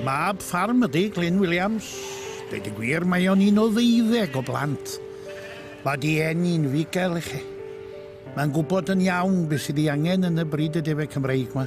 Mab ffarm ydy Glyn Williams. Dweud y gwir, mae o'n un o ddeuddeg o blant. Mae di enni'n figel i chi. Mae'n gwybod yn iawn beth sydd ei angen yn y bryd y defe Cymreig yma.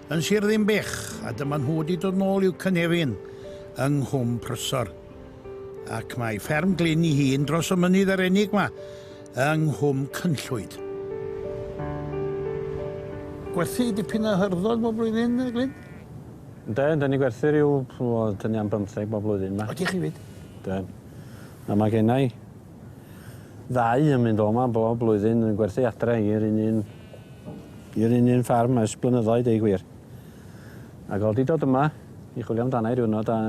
yn Sir Ddinbych a dyma nhw wedi dod nôl i'w cynefin yng Nghwm Prysor. Ac mae fferm Glyn i hun dros y mynydd yr enig ma yng Nghwm Cynllwyd. Gwerthu dipyn o hyrddodd bob blwyddyn, Glyn? Yndw, yndw, ni'n gwerthu rhyw, wel, dyn ni am bymtheg bob blwyddyn ma. Ydych chi 'fyd? Yndw. A mae gennai ddau yn mynd o 'ma bob blwyddyn yn gwerthu adre i'r un un i'r un un ffarm ers blynyddoedd deu gwir. Ac o'dd 'di dod yma i chwilio amdana i diwrnod a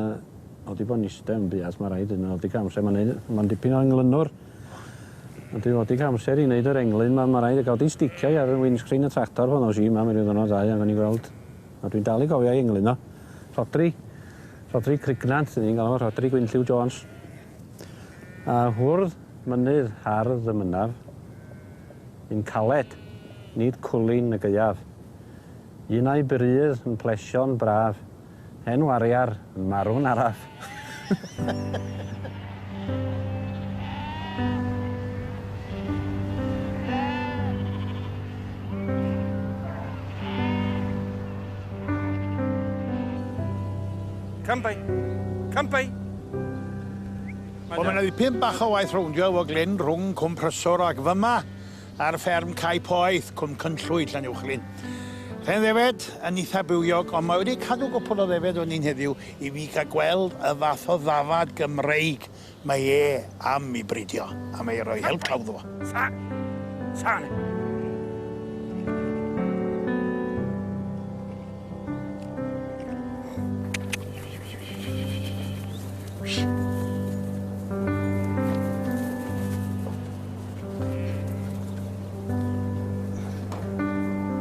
o'dd 'di bod yn iste yn buas ma' raid yn ôl digon amser ma'n neud ma'n dipyn o englynwr. O'dd 'di fod digon amser i neud yr englyn ma' ma' raid a ga'l 'di sticio i ar y windscreen y tractor pan ddois i yma mewn ryw ddiwrnod ddau a gawn ni gweld a dwi'n dal i gofio 'i englyno. Rhodri Rhodri Crignant 'dyn ni'n galw fo Rhodri Gwynlliw Jones. A hwrdd mynydd hardd y mynaf, Yn caled, nid cwlyn y gaeaf, Un a'i bwrydd yn plesio'n braf, Hen wariar yn marw'n araf. Come by. Come by. Wel ma' 'na ddipyn bach o waith rowndio efo Glyn rhwng Cwm Pryswr ac fyma ar fferm Cae Poeth, Cwm Cynllwyd, Llanuwchllyn. Hen ddefed yn eitha bywiog ond mae wedi cadw gwpwl o ddefed o ni'n heddiw i fi gael gweld y fath o ddafad Gymreig mae e am i bridio a mae e roi help claw iddo fo. Sane!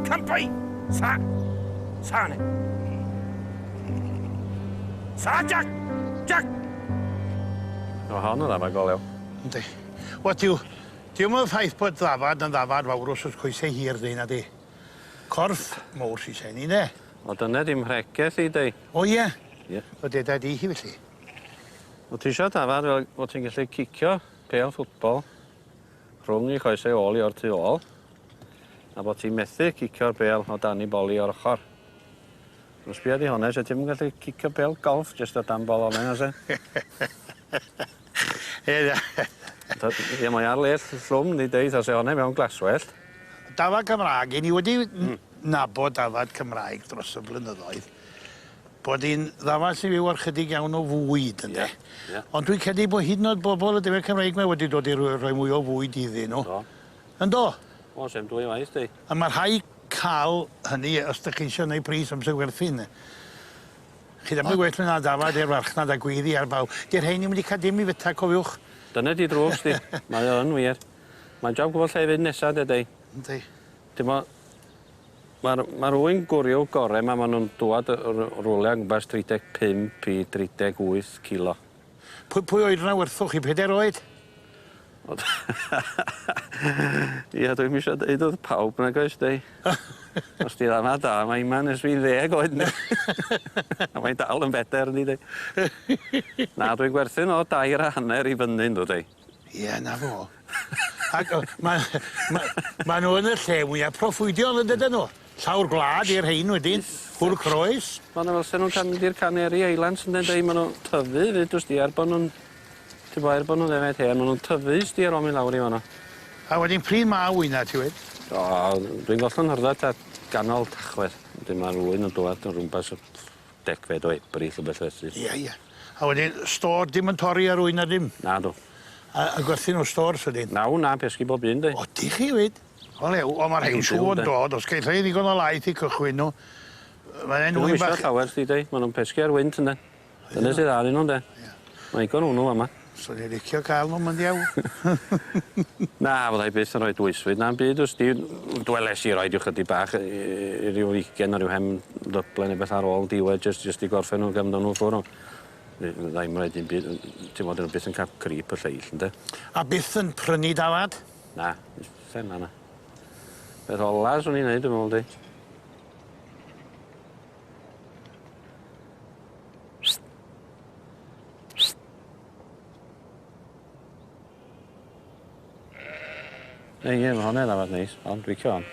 Campai! Sa! Sane! Sa, Jack! Jack! O, hon yn ddafad goleo. Yndi. Wel, diw... Diwm yn ffaith bod ddafad yn ddafad fawr os oes coesau hir, dweud na di. Corff mowr sy'n shiny, ynde? O dyna dy mhregeth di di. O ie? Ie. O deda di hi felly? O ti isio dafad fel bo ti'n gallu cicio pêl ffwtbol rhwng i choesau ôl i o'r tu ôl a bo ti'n methu cicio'r bêl o dan i boli o'r ochr. Os bia di hone, se ti'm yn gallu cicio pêl golff jyst o dan bol ola na se? Ia mae ar lêll llwm yndi deud tha se hone mewn glaswellt. Dafad Cymraeg, i ni wedi nabod dafad Cymraeg dros y blynyddoedd bod hi'n ddafad sy'n fyw ar chydig iawn o fwyd ynde? Ia ia. Ond dwi'n credu bod hyd yn oed bobl y defaid Cymreig 'ma wedi dod i roi mwy o fwyd iddyn nhw. Do. Yndo? O sem dwy waith di. A ma' rhai ca'l hynny os dych chi isio neu' pris amser werthin de. Chi ddim yn gwell myn' na dafad i'r farchnad a gweiddi ar bawb. Di'r rhein 'im 'di ca'l dim i fyta cofiwch. Dyna di drwg sdi. Mae o yn wir. Mae'n jab gwbo lle i fynd nesa dydi? Yndi. T'mo' ma'r ma' rywun gwryw gore 'ma ma' nw'n dŵad yy r- rwle yn gwmpas tri deg pump i dri deg wyth kilo. Pwy pwy oed yna werthoch chi peder oed? Wel ia dwi'm isio deud wrth pawb nag oes deu? Os di dda na da mae Iman ers fi ddeg oed yndi? A mae'n dal yn beder yndi deu? Na dwi'n gwerthin o dair a hanner i fyny yndw deu? Ie 'na fo. Ag o- ma' ma' ma' n'w yn y lle mwya proffwydiol yndyden n'w? Llawr gwlad i'r rhein wedyn. Cwrw croes. Ma' 'na fel se nw'n cam- mynd i'r Canary Islands ynde deu ma' n'w tyfu fyd wsdi er bo' nw'n t'bo' er bo' nw'n ddefaid hen ma' nw'n tyfu wsdi ar ôl myn' lawr i fan 'no. A wedyn pryd ma' wyna ti wed? O dwi'n gollwng hyrddat at ganol Tachwedd. Wedyn ma'r ŵyn yn dwad o rwmpas y degfed o Ebrill rhywbeth felly. Ia ia. A wedyn stôr dim yn torri ar ŵyn na dim? Nadw. A a gwerthu nhw stôrs wedyn? Na ŵyn na pesgi bob un de. O dych chi fyd? O lew o ma' rhein siŵr yn dod os geith rhein ddigon o laeth i cychwyn nhw yy ma' e'n ŵyn bach... Llawer chdi deu ma' nhw'n pesgi ar wynt ynde? Dyne sy dda arnyn nhw ynde? Ia. Mae'n ddigon ŵn nhw fama. Swn i licio ca'l n'w ma'n ddiawl. Na fyddai byth yn rhoi dwysfyd na'm byd os di w- dwelais i roid ryw chydig bach yy yy ryw ugain o ryw hen ddyble ne' beth ar ôl diwedd jyst jyst i gorffen n'w ga'l myn' â n'w ffwr' on' fy- fyddai'm roid dim byd yy t'mod 'dyn n'w byth yn ca'l crip y lleill ynde? A byth yn prynu dafad? Na. Bysen na na. Peth ola swn i'n neud dwi me'wl 'di Ie ie ma' honne ddafad neis on' dwi licio 'on.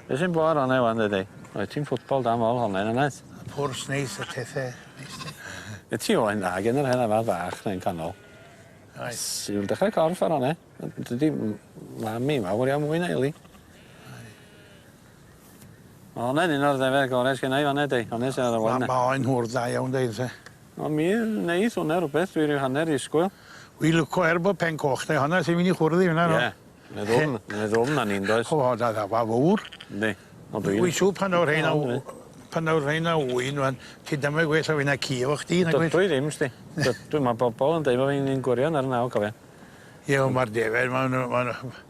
Be' sy'n bo' ar onnau ŵan dwed di? Oe ti'n ffwtbol da mawr honne yw wyt? Y pwrs neis y tefe neis di. Be' ti moyn dda gen yr hen afadd fach na un canol. Reit. Siwl dechre corff ar onnau. Yy dydi m- mam i ma' mwy na Eli. Reit. Ma' wnna yn un o'r ddefaid gore sgenna' i fan 'na 'di? Onest ar dy ôl yna. Ma' oen hwyr dda iawn deud y lle. O mi neith wnna rwbeth dwi ryw hanner disgwyl. Wi lwco er bo pen coch da i honna sy myn' i chwrdd i fyn 'na do? Ie. Mae ddwfn mae ddwfn arni yndoes? O da ddafa fowr. Yndi. Ond dwi... Wi siŵr pan aw rheina w- pan aw rheina ŵyn ŵan ti dymed gwell o fi na ci efo chdi nag wyt? Dw i ddim sdi. Dw- dwi ma' bobol yn deud bo' fi'n un gwirion ar y naw cofia. Ie on' ma'r defaid ma' n'w ma' n'w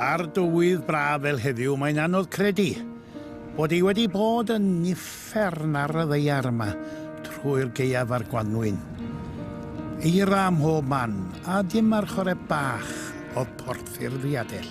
Ar dywydd braf fel heddiw mae'n anodd credu bod hi wedi bod yn uffern ar y ddaear yma trwy'r gaeaf a'r gwanwyn. Eira ym mhob man a dim archored bach oedd portffurfiadell.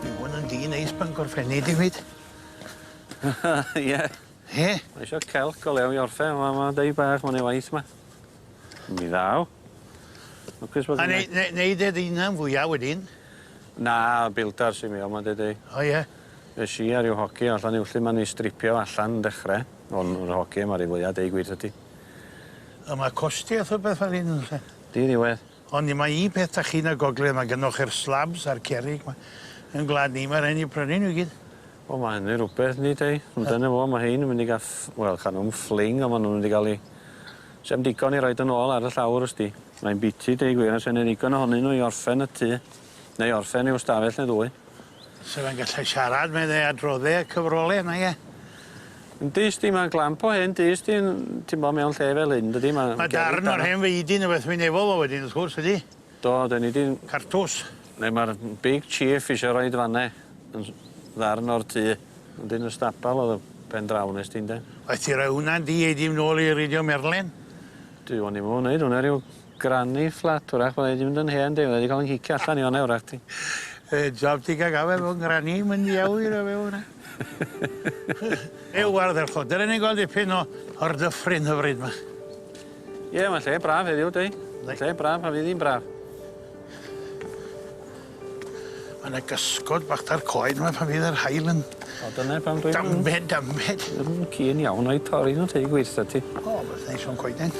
Mae hwn yn dŷ neis Bangor Fenni David. Ie. Ie? Ma' isio celc o lew i orffeu on' ma' ma' deu bach ma' neu' waith 'ma. Yn ddi dda o. Lwcus bod... A nei- ne- neud e dy unan fwya wedyn? Na builder sy mewn 'ma dydi? O ie? Nesh i a ryw hogie allan i Iwllyn 'ma o'n i stripio allan yn dechre. O'n yr hogie 'ma ry fwya deu gwir 'tho ti. A ma' costi a phopeth fel 'yn yndo's e? Diriwedd. Ond un mai un peth 'da chi yn y gogledd ma' gynnoch chi'r slabs a'r cerrig 'ma. Yn gwlad ni ma' rai' ni prynu n'w i gyd. Wel ma' hynny rwbeth yndi Dei? Ond dyna fo ma' rhein yn mynd i ga'l ff- wel ca' nw'm ffling on' ma' nw'n mynd i ga'l 'u... Sa'm digon i roid yn ôl ar y llawr w's di. Mae'n biti deu gwir a sa 'ne ddigon ohonyn n'w i orffen y tŷ. Neu orffen ryw stafell ne' ddwy. Sa fe'n gallu siarad medde adrodde y cyfrole nage? Yn dyst di ma'n glamp o hen dyst di'n timlo mewn lle fel hyn dydi ma'... Ma' darn o'r hen feidin yn beth wi'n efo fo wedyn wrth gwrs ydi? Do 'dyn ni di'n... Cartws. Ne' ma'r big chief isio roid fan 'ne yn ddarn o'r tŷ ond yn y stabal o'dd y pen draw nes di ynde? Waeth ti roi wnna di ei di nôl i reidio merlin. Dwi 'wan 'im efo neud wnna ryw Granny flat 'w'rach byddai 'di mynd yn hen 'de fyddai 'di ca'l 'yn cicio allan i fana 'w'rach 'di. Y job ti ga'l gafael efo ngranny yn mynd i awyr o fewn e. Ew ardderchog. Dere ni gweld dipyn o o'r dyffryn hyfryd 'ma. Ie ma'n lle braf heddiw 'di? Mae'n lle braf a fydd 'i'n braf. Ma' 'na gysgod bach 'da'r coed 'ma pan fydd yr haul yn... O dyne pam dwi'n... Dame dame. Ddim yn keen iawn o'u torri nw teu gwir 'tha ti. O beth neis o'n coeden.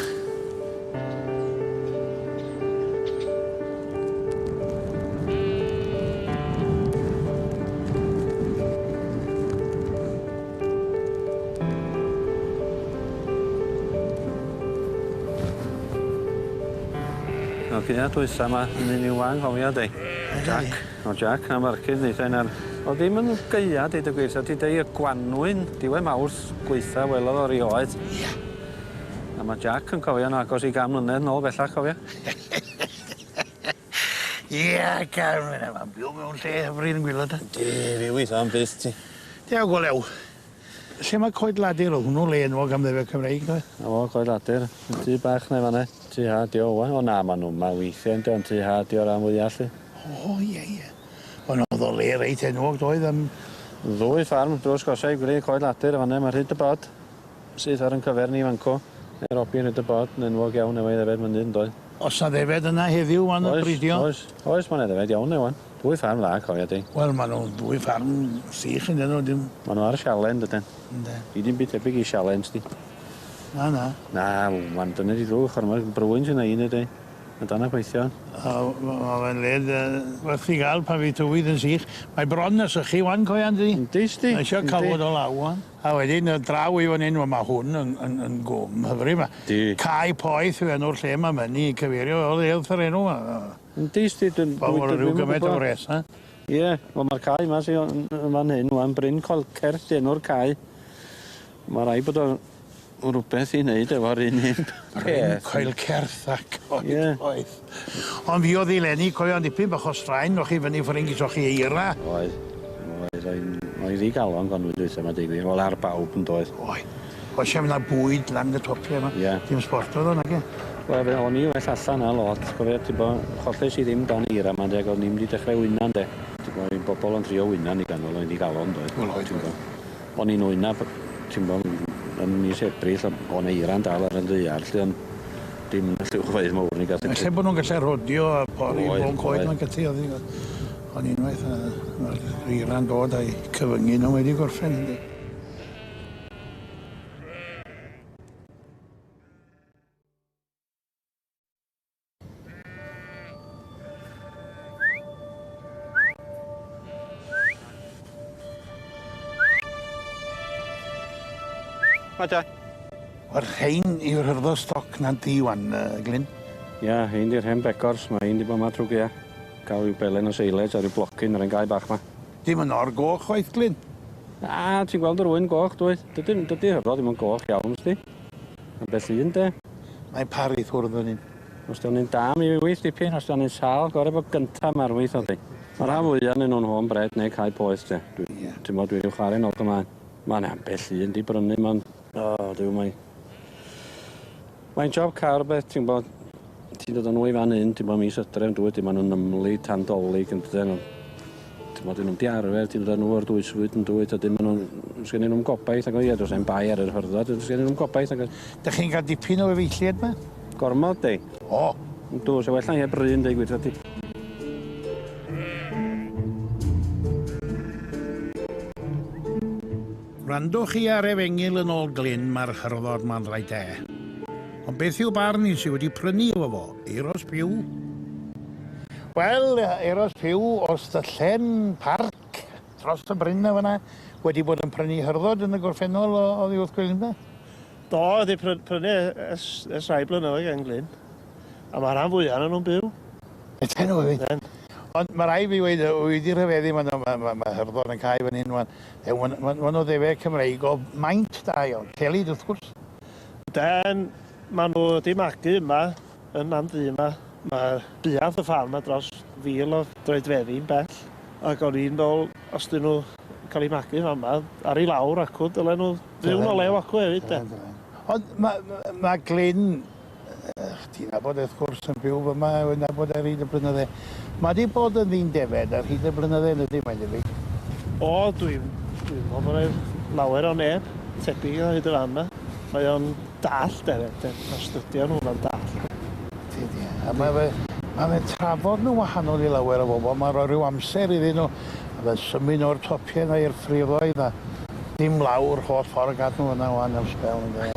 Wel gin y dwytha 'ma yn un i'w anghofio di. Ydi. Jac. O Jac na Barcud neitha un arall. O'dd ddim yn gaea deud y gwir sa ti deu y gwanwyn diwedd Mawrth gwaetha welodd o rioed. Ia. A ma' Jac yn cofio'n agos i gan mlynedd nôl bellach cofia? Ia gad myn' am am byw mewn lle hyfryd yn gwilo de? Yndi fi witho am byth ti. Dew go lew. Lle ma' Coed Ladur o' hwnnw le enwog am ddefaid Cymreig doedd? 'Na fo Coed Ladur. Y tŷ bach 'na i fan 'na. Tŷ ha 'di o ŵan. O na ma' nw 'ma weithie on'd 'i on' tŷ ha 'di o ran fwya 'lly. O ie ie. Wel no o'dd o le reit enwog doedd am... Ddwy ffarm drws gorsha i gwre Coed Ladur y' fan 'ne ma' rhyd y bod. Syth ar yn cyfer ni fan 'co. Mae Robbie yn rhoid y bod yn enwog iawn efo'i ddefed mynydd yndoedd? Oes 'na ddefed yna heddiw wan yn bridio? Oes, oes, oes, mae 'na ddefed iawn 'na wan. Dwy ffarm dda cofia di. Wel ma' nhw'n ddwy ffarm sych ynde nhw dim... Ma' nhw ar siale yndyden? Ynde. Di di'm byd tebyg i siale yn's di? Na na. Na wan dyna di ddrwg chwara ma' brwyn sy 'na un neu deu a dan a gweithio. A ma' ma' fe'n le yy werth chi ga'l pan fydd tywydd yn sych. Mae bron na sychu wan cofia yndydi? Yndi 'sdi. Mae isio cawod o law wan. A wedyn yy draw i fan 'yn, wel ma' hwn yn yn yn gwm hyfryd 'ma. Yndi. Cae Poeth yw enw'r lle 'ma ma' ynny cyfeirio o'dd e wrth yr enw 'ma yy. Yndi sti dwn- dwi dwi ddim yn gwbo. gymaint o wres yy? Ie wel ma'r cae 'ma sy o- yn yn fan hyn ŵan Bryn Colcert 'di enw'r cae. Ma' raid bod o O' rwbeth i neud efo'r un un peth. Rhyn coel certh a coed poeth. Ie. Ond fi odd i leni cofio yn dipyn bach o straen o' chi fyny ffwryn geso chi eira. Oedd. Oedd oedd oedd ddigalon Gwanwyn dwytha 'ma deu gwir wel ar bawb yndoedd? Oedd. Oedd sim na bwyd lan y top lle 'ma. Ie. Dim sbort o'dd o nage? Wel fe o'n i well allan na lot cofio tibo cholles i ddim dan eira 'ma de ag o'n i'm 'di dechre wyna ynde? Tibo oedd bobol yn trio wyna yn i ganol oedd ddigalon doedd? Wel oedd. Ti'n gwbo. O'n i'n wynab ti'n gwbo yn mis Ebrill o- o' 'na eira'n dal ar y ddaear 'lly on' dim yn y llyfrfeydd mowr ni gath y... Ella bo' nw'n gallu rhodio a pori... Oedd oedd. ...bron coed ma'n gallu oddi fel 'a. On' unwaith yy ma'r eira'n dod a'i cyfyngu nw mae 'di gorffen yndi? Mae da. O'r rhain yw'r hyrddo stoc na di wan, uh, Glyn? Ia, hyn di'r hen begors, mae hyn di bod ma trwy gea. Gael rhyw belen o seiled a rhyw blocyn ar ein gau bach ma. Dim yn o'r goch chwaith, Glyn? Na, ti'n gweld yr wyn goch, dwyt? Dydy, dydy hyrddo ddim yn goch iawn, sdi? Ambell un 'de? Mae'n paru i ffwrdd fan hyn. Os dio'n un da mi yw 'i wyth dipyn, os dio'n un sâl, gore bo gynta ma'r wyth oddi. Ma rhan fwya o'nyn nhw'n home bred neu cae poeth 'de. Dwi Ie. T'mod dwi ryw chware nol gymlaen. Ma 'na ambell un 'di brynu ma'n O Duw mae Mae'n job car beth ti'n gwbod. Ti'n dod â nhw i fan hyn, ti'n bod mis ydref, dwi, ti'n bod nhw'n ymwneud tan dolyg, yn dydyn nhw. Ti'n bod nhw'n diarfer, ti'n dod â nhw o'r dwysfwyd, yn dwi, ti'n bod nhw'n... Sgyn nhw'n gobaith, ac o ie, dwi'n bai ar yr hyrddod, sgyn nhw'n gobaith, ac... Dych chi'n cael dipyn o efeilliad ma? Gormod, di. O! Yn dwi, so well na heb ryn, dweud gwir, ti. Wrandwch chi ar Efengyl yn ol Glyn ma'r Hyrddod ma'n rhaid e. Ond beth yw barn un sy wedi prynu efo fo? Euros Pugh? Wel, Euros Pugh o Styllen Parc, dros y bryn na fana, wedi bod yn prynu Hyrddod yn y gorffennol o oddi wrth Glyn ynde? Do, wedi prynu ers ers rhai blynyddoedd gen Glyn. A ma' rhan fwya onan nw'n byw. Ydyn nw wir? Ydyn. Ond ma' rai' fi weud yy wi 'di rhyfeddu ma' ma' ma' ma' Hyrddod yn cau fan hyn wan. Ie, ma' 'na ma' 'na ddefaid Cymreig o maint da iawn. Celid, wrth gwrs. Ynden, ma' nhw wedi magu yma, yn man du yma. Mae buarth y ffarm 'ma dros fil o droedfeddi'n bell, ac o'n i'n meddwl, os 'dyn nhw yn cael eu magu yn fa'ma, ar i lawr acw, dylen nhw fyw yn o lew acw hefyd, de. Ond ma' ma' ma' Glyn Ych ti'n nabod e wrth gwrs yn byw fyma yw'n nabod e ar hyd y blynydde. Mae 'di bod yn ddyn defed ar hyd y blynydde yn ydy mae'n debyg? O dwi'n dwi'n meddwl bod e'n lawer o neb tebyg o hyd y fan 'ma. Mae o'n dallt efyd de ma'r stydio nhw ma'n dallt. Ydi ie a mae fe mae fe'n trafod nhw'n wahanol i lawer o bobl mae'n rhoi rhyw amser iddyn nhw a fe'n symud o'r topie 'na i'r ffrifoedd a dim lawr holl ffordd gadw hwnna ŵan am sbel ynde.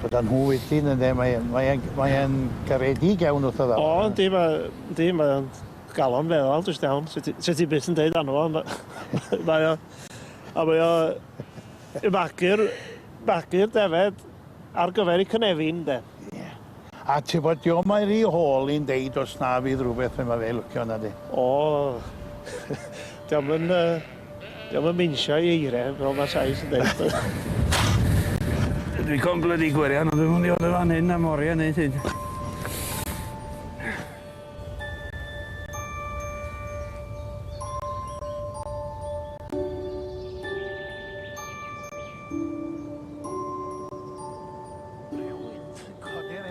Gyda nhw wedyn ynde mae e mae e'n mae e'n garedig iawn wrtho fe. O yndi mae yndi mae o'n galon feddal jyst iawn sy ti sy ti byth yn deud arno fo ond yy mae o a mae o yy magu'r magu'r defed ar gyfer 'i cynefin 'de. Ie. A tibod dio mae rhy hol i'n deud os na fydd rhywbeth fe mae fe lwcio na di. O! Diom yn yy diom yn minsio i eire fel ma Sais yn deud. Dwi con blydi gwirion ond dwi'm yn mynd i fod yn fan hyn am orie neu hyd.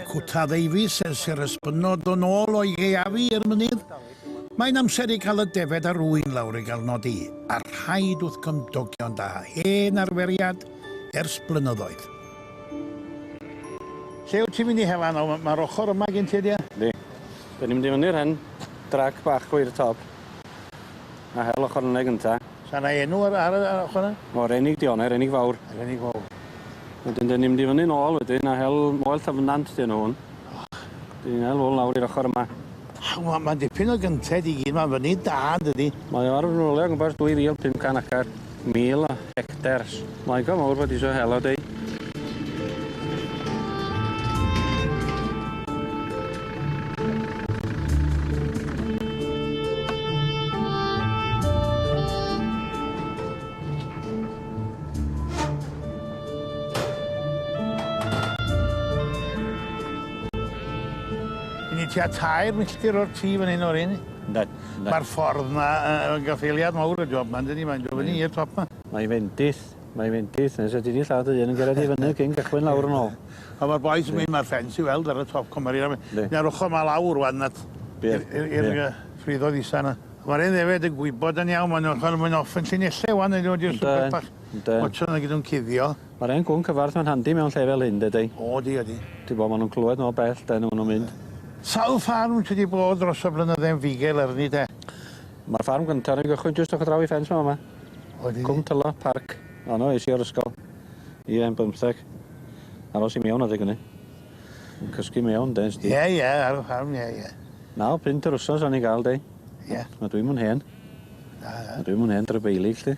Cwta Ddeufis ers i'r ysbynod ddod nôl o'i gaeafu i'r mynydd. Mae'n amser i gael y defaid a'r ŵyn lawr i gael nodi, a rhaid wrth gymdogion da, hen arferiad ers blynyddoedd. Lle wyt ti'n mynd i Hela nawr? Mae'r ochr yma gen ti ydy e? Yndi. Dyn ni'n mynd i fyny'r hen drac bach gweir y top. A hel ochor yna gynta. Sa 'na enw ar ar y ar ochor 'na? O Renig 'di o ne' Renig Fawr. Renig Fowr. Wedyn 'dyn ni'n mynd i fyny nôl wedyn a hel Moel Llyfnant 'di enw hwn. Och. 'Dyn ni'n hel hwn lawr i'r ochor yma. Aw ma' ma'n dipyn o gynted i gyd ma'n fyny da yndydi? Mae o ar o gwmpas dwy fil pum can acar. Mil o hectares. Mae go mowr wedi isio hela deu. Ni tua tair milltir o'r tŷ fan hyn o'r un. Yndan. Ma'r ffordd 'na yy yy yn gaffaeliad mawr y job 'ma yndydi mae'n do' fyny i'r top 'ma. Mae'n fendith mae'n fendith nes fedri di lladd dy hun yn cera di fyny cyn cychwyn lawr yn ôl. A ma'r bois yn myn' ma'r ffens i weld ar y top cwmar i Yndi. Na'r ochor 'ma lawr ŵan at... Ie. ...i'r i'r i'r yy ffridod isa 'na. Ma'r 'en ddefaid yn gwybod yn iawn ma' nw ma' nw myn' off yn llinelle ŵan ynde? Yndyn. Yndyn. Watsian 'na gyd o'n cuddio. Ma'r 'en cŵn cyfarth 'ma'n handi mewn lle fel hyn, dede? O, ydi, ydi. Ti'n gwbod, ma' nw'n clywed mor bell, 'de, na ma' nw'n mynd. Sawl ffarm ti 'di bod dros y blynydde yn fugail arni, 'de? Ma'r ffarm gynta o'n i'n gychwyn jyst ochr draw i ffens 'ma fama. O, ydi? Cwm Tylo, parc. O, 'na es i o'r ysgol. Ie, yn bymtheg. Aros i mewn adeg ynny. Yn cysgu mewn, 'de, sti? Ie, ie, ar y ffarm, ie, ie. Naw punt yr wsos o'n i'n ga'l, 'de? Ie. A dwi'm yn hen. Na, na. A dwi'm yn hen drybeilig, 'lly.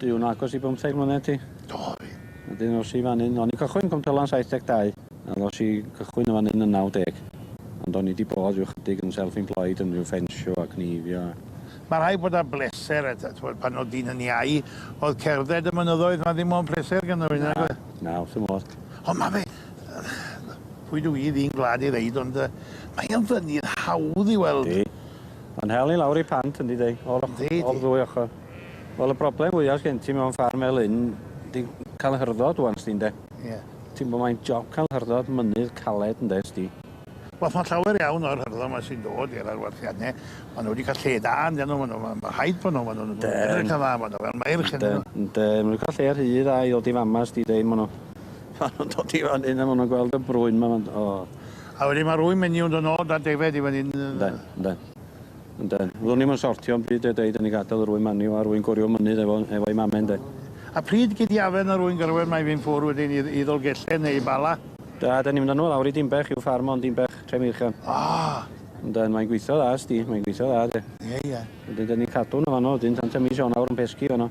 Dwi yn agos i bymtheg mlynedd ti. Do, fi. Wedyn os i fan 'yn, o'n i'n cychwyn Cwmtylan 72, a ddo's i gychwyn yn fan 'yn yn 90. Ond o'n i 'di bod rhyw chydig yn self employed yn rhyw ffensio a cneifio a... Mae rhaid bod ar bleser a ta- t'mod pan o'dd dyn yn iau o'dd cerdded y mynyddoedd 'ma ddim on' pleser gynno fi nag oedd? Na, na, wrth fy modd. Ond ma' fe yy pwy dw i, ddyn gwlad i ddeud ond yy mae o'n fynydd hawdd i weld. Yndi. Ma'n hel ni lawr i Pant yndi deu? O'r och-... Yndi yndi. ...o'r ddwy ochor. Wel y broblem fwya sgen ti mewn ffarm fel hyn 'di ca'l hyrddod ŵan sdi ynde? Ie. Ti'n gwbo mae'n job ca'l hyrddod mynydd caled ynde sdi? Wel ma' llawer iawn o'r hyrddod 'ma sy'n dod i'r arwerthianne ma' n'w 'di ca'l lle da ynde n'w ma' n'w ma' ma' rhaid bo' n'w ma' n'w'n yy edrych yn dda ma' n'w fel meirch ynde n'w? Yndi ma' n'w ca'l lle rhy dda i ddod i fama sdi deu ma' n'w ma' nw'n dod i fan 'yn a ma' nw'n gweld y brwyn 'ma ma'n o. A wedyn ma' rwyn menyw yn do' nôl da defaid i fan 'yn yy. Ynde ynde. Ynde. Fyddwn i'm yn sortio bryd de deud yn i gadel yr ŵyn manu o a rwy'n gwrio mynydd efo efo ei mame ynde. A pryd gei di afen yr ŵyn gyrwen mae fi'n ffwr wedyn i i Ddolgellau neu i Bala? Da da ni'n mynd â nhw lawr i Dinbech i'w ffarm o yn Dinbech, Tre Meirchion. Ah! Ynden mae'n gweithio dda ysdi, mae'n gweithio dda de. Ie ie. Wedyn dan ni'n cadw nhw fanno wedyn tan ta mis Ionawr yn pesgi fanno.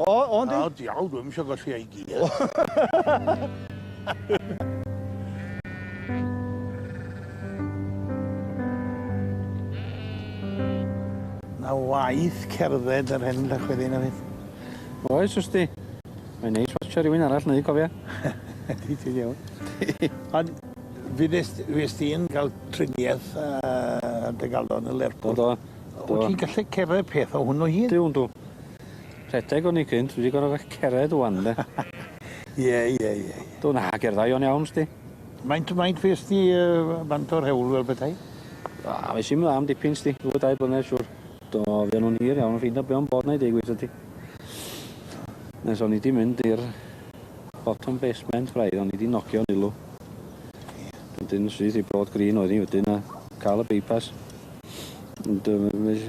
O, o yndi? O, diawl, dwi'm isio golli ei gi. O! Na waith cerdded yr hen Llechweddi na fyth. Oes, wrth di. Mae'n neis watsio rhywun arall neu cofia. Ydy, ti'n iawn. Ond fyddes ti'n cael triniaeth ar dy galon yn Lerpwl. Do, do. Wyt ti'n gallu cerdded peth o hwnnw hyd? Duw, yndw. Rhedeg o'n i cynt dwi 'di gor'o' fe- cered ŵan 'de? Ie ie ie ie. Do na gerddai o'n iawn sdi. Faint faint fues di yy bant o'r hewl fel petai? Wel es i'm dda am dipyn sdi, ddwy dair blynedd siŵr. Do fuon nw'n hir iawn ffeindio be' o'n bod 'na i deu gwir 'tho ti. Nes o'n i 'di mynd i'r bottom basement braidd o'n i 'di nogio'n ilw. Ia. Wedyn syth i Bro d' Green oedd 'i wedyn a ca'l y by pass. Ond yy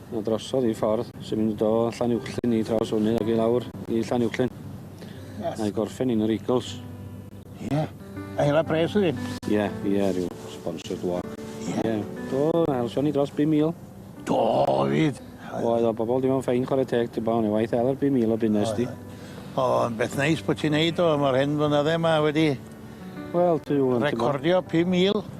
'na drosodd i ffordd sy'n mynd o Llanuwchllyn i draws fyny ag i lawr i Llanuwchllyn. Yes. Na'i gorffen i'n yr Eagles. Ie. Yeah. A hela pres ydi? Ie, yeah, ie, yeah, rhyw sponsored walk. Ie. Yeah. Yeah. Do, na helsion ni dros 5,000. Do, fyd. Oedd o bobl dim ond ffein chwarae teg, dim ond waith eler 5,000 o bunnes di. O, yn beth neis bod ti'n neud o, mae'r hen flynydde yma wedi... Wel, dwi'n... Recordio 5,000.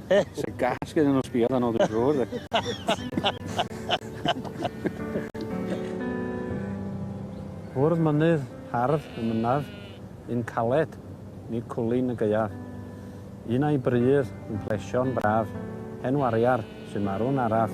Sa gas gyda nhw sbio arno dwi'n siŵr. Bwrdd mynydd hardd y mynadd, un caled, ni cwlin y gaeaf. Un a'i brydd yn plesio'n braf, hen wariar sy'n marw'n araf.